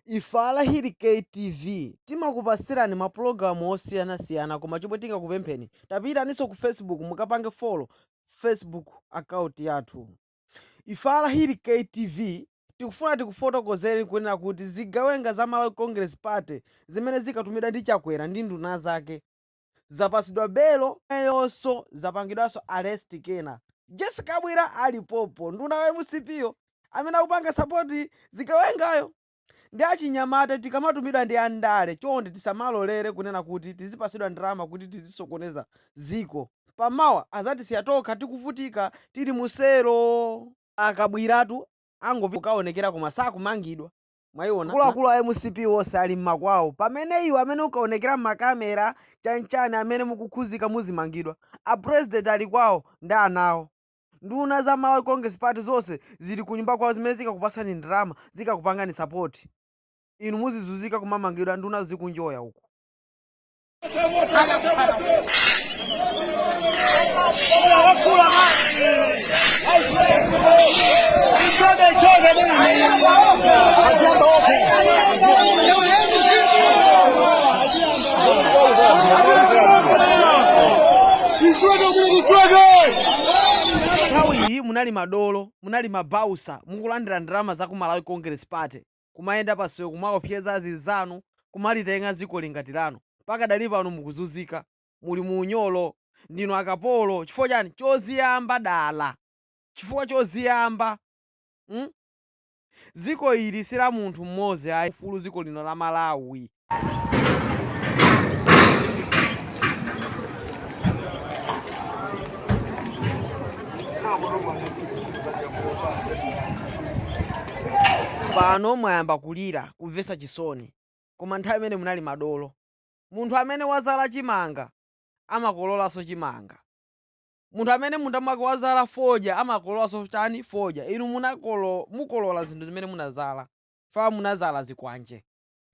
Ife a Lahiri KTV timakupasirani mapulogalamu osiyana siyana koma chomwe tingakupempheni tapitaninso ku Facebook mukapange follow Facebook account yathu. Ife a Lahiri KTV tikufuna tikufotokozeni kunena kuti zigawenga za Malawi Congress Party zimene zikatumidwa ndi Chakwera ndi nduna zake, zapasidwa belo nayonso zapangidwanso arrest kena Jessie Kabwira alipopo nduna wa mcp yo amene akupanga support zigawengayo ndi achinyamata tikamatumidwa ndi andale chonde tisamalolere kunena kuti tizipasidwa ndalama kuti tizisokoneza ziko pa mawa azatisiya tokha tikuvutika tili mu selo a kabwiratu angopita kukaonekera koma sakumangidwa. mwayiona akuluakulu a mcp onse ali mmakwawo pamene iwe amene ukaonekera mmakamera chanichani amene mukukhuzika muzimangidwa a president ali kwawo ndi ana awo nduna za malawi congress party zonse zili kunyumba kwawo zimene zikakupasani ndalama zikakupangani support inu muzizuzika kumamangidwa nduna zikunjoya uku nthawi iyi munali madolo munali mabausa mukulandira ndalama za ku malawi congress party kumayenda pasewu kumaopseza azinzanu kumalitenga dzikoli ngati lanu pakadali pano mukuzuzika muli mu unyolo ndinu akapolo chifukwa chani choziyamba dala chifukwa choziyamba mm dziko ili si la munthu mmodzi ayi ufulu dziko lino la malawi. pano mwayamba kulira kumvetsa chisoni koma nthawi imene munali madolo munthu amene wazala chimanga amakololanso chimanga munthu amene munda mwake wazala fodya amakololanso chani fodya inu mukolola zinthu zimene munazala fa munazala zikwanje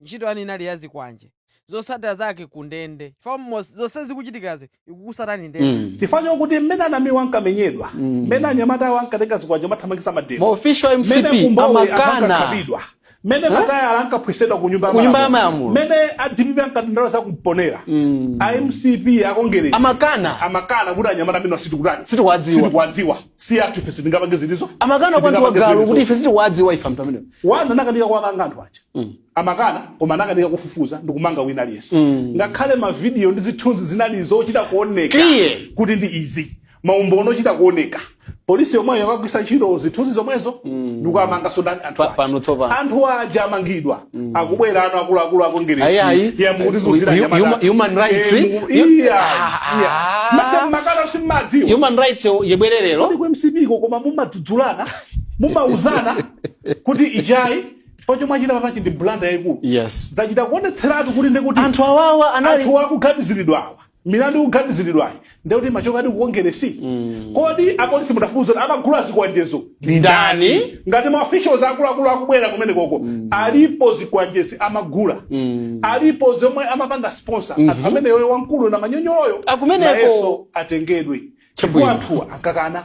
Ntchito yanu inali ya zikwanje. Zotsatira zake ku ndende. Chifukwa mos- zonse zikuchitikazi ikukusatani ndende. Mm. chifukwa chokuti mmene a Namiwa ankamenyedwa Mm. mmene anyamata awo ankatenga zikwanje mathamangisa mademo Maofficial mmene MCP kumbowe amakana ankakhapidwa mmene Eh? matayala ankaphwesedwa ku nyumba ya Ku nyumba ya malamulo. malamulo. mmene a dpp ankatibulidwa kumponera Mm. a mcp akongeresi Amakana. amakana kuti anyamata amenewa sitikutani Sitikuwadziwa. sitikuwadziwa si athu ife sitingapange zimenezo amakana kwa mtu wa galu kuti ife sitikuwadziwa ife anthu amenewo boma linakanika kuwamanga anthu aja amakana koma anakanika kufufuza ndikumanga wina aliyense ngakhale mavidiyo ndi zithunzi zinali zochita kuoneka Clear. kuti ndi izi maumboni ochita kuoneka polisi yomweyo yakagwiritsa ntchito zithunzi zomwezo ndikuwamanga sodani anthu Pa- aja. pano tsopano. anthu aja amangidwa akubwera ano akuluakulu Ayi, akongeresi ayi. mukutizunzira Hu- hu- human- human rights. Hu- Ah, ah. masemakana simmadziwa human rights yo- yabwera lero kodi ku mcp ko mumadzudzulana mumauzana kuti ichi ayi chifukwa chomwe achita papachi ndi blunder yayikulu yes zachita kuonetseratu kuti ndekuti anthu awawa anali anthu akuganiziridwawa milandu ikuganiziridwayi ndekuti machoka adi kukongeresi kodi apolisi mudafufuza kuti amagula zikwanjezo ndi ndani ngati ma officials akuluakulu akubwera kumene koko alipo zikwanjezi amagula aliponso omwe amapanga sponsor anthu amene yoyo wamkulu na manyonyoloyo Akumeneko. nayenso atengedwe chifukwa Chabwino. anthuwa ankakana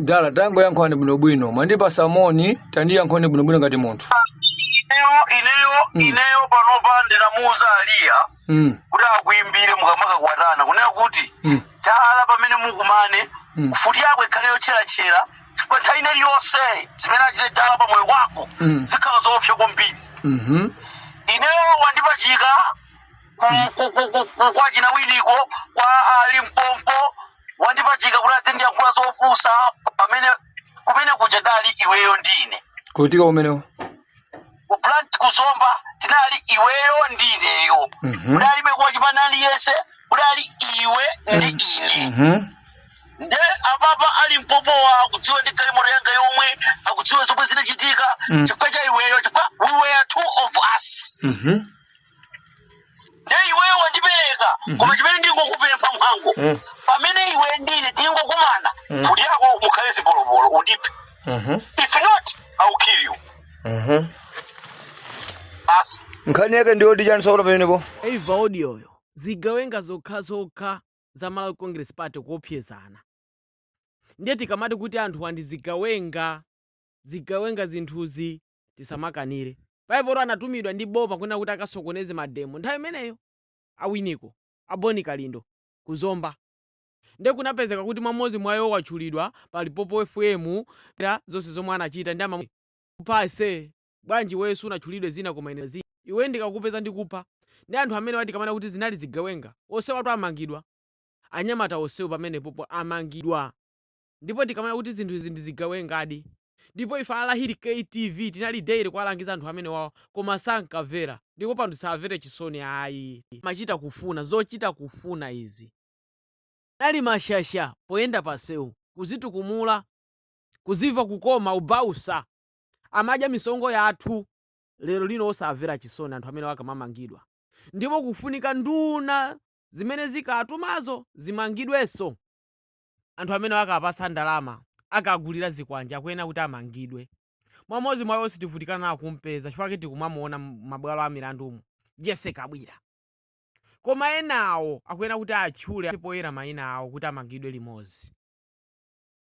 dala tangoyankhulani bwinobwino mwandipasa moni tandiyankhulani bwinobwino ngati munthu ineyo ineyo ineyo panopa ndinamuuza aliya mm. kuti akuimbire mukamakakwatana kunena kuti Mm. tala pamene mukumane Mm. mfuti yako ikhale yotcheratchera chifukwa nthawi ina iliyonse zimene achite dala pa moyo wako Mm. zikhala zoopsa kwambiri mm-hmm. ineyo wandipachika ku- ku- ku- ku- ku- kwa achina winiko kwa alimpopo wandipachika kuti adzindiyankhula zopusa pamene kumene kuja tinali iweyo ndine kuti kumeneko kuplant kuzomba tinali iweyo ndineyo Mhm. kudalibe wachipani aliyense kudali iwe ndi ine Mhm. nde apapa alimpopowa akudziwa ndi galimoto yanga yomwe akudziwa zomwe zinachitika Mm. chifukwa cha iweyo chifukwa we were two of us Mhm. ndiye iweyo wandipereka koma chimene ndingokupempha mhango Mm. pamene iwe ndine tingokumana Mm. mfuti yako mukhale zipolopolo undiphe Mhm. if not i will kill you Mhm. basi nkhani yake ndiyoti chani sakuta pamenepo mwaimva audio yo zigawenga zokhazokha za malawi congress party kuopsezana ndiye tikamati kuti anthuwa ndi zigawenga zigawenga zinthuzi tisamakanire. Bible anatumidwa ndi boma kunena kuti akasokoneze mademo nthawi imeneyo a winiko a boni kalindo ku zomba nde kunapezeka kuti mmodzi mwa iwo watchulidwa pa limpopo fm za zonse zomwe anachita ndi amamuna kupha ase bwanji iweyo sunatchulidwe dzina koma ine dzina iwe ndikakupeza ndikupha nde anthu amenewa tikamanena kuti zinali zigawenga onsewatu amangidwa anyamata onsewo pamenepopo amangidwa. ndipo tikamanena kuti zinthu izi ndi zigawengadi ndipo ife a Lahiri KTV tinali daily kuwalangiza anthu amenewawa koma sankamvera ndipo pano tisawammvere chisoni ayi. Amachita kufuna, zochita kufuna izi. Anali mashasha poyenda pansewu, kuzitukumula, kuzimva kukoma ubausa, amadya misonkho yathu. Lero lino osawamvera chisoni anthu amenewa akamamangidwa ndipo kufunika nduna zimene zinkawatumazo zimangidwenso. anthu amene ankawapatsa ndalama ankawagulira zikwanje akuyenera kuti amangidwe mmodzi mwa iwo sitivutikana nawo kumpeza chifukwa chake tikumamuona m'mabwalo a milandumu Jessie Kabwila koma enawo akuyenera kuti atchule poyera maina awo kuti amangidwe limodzi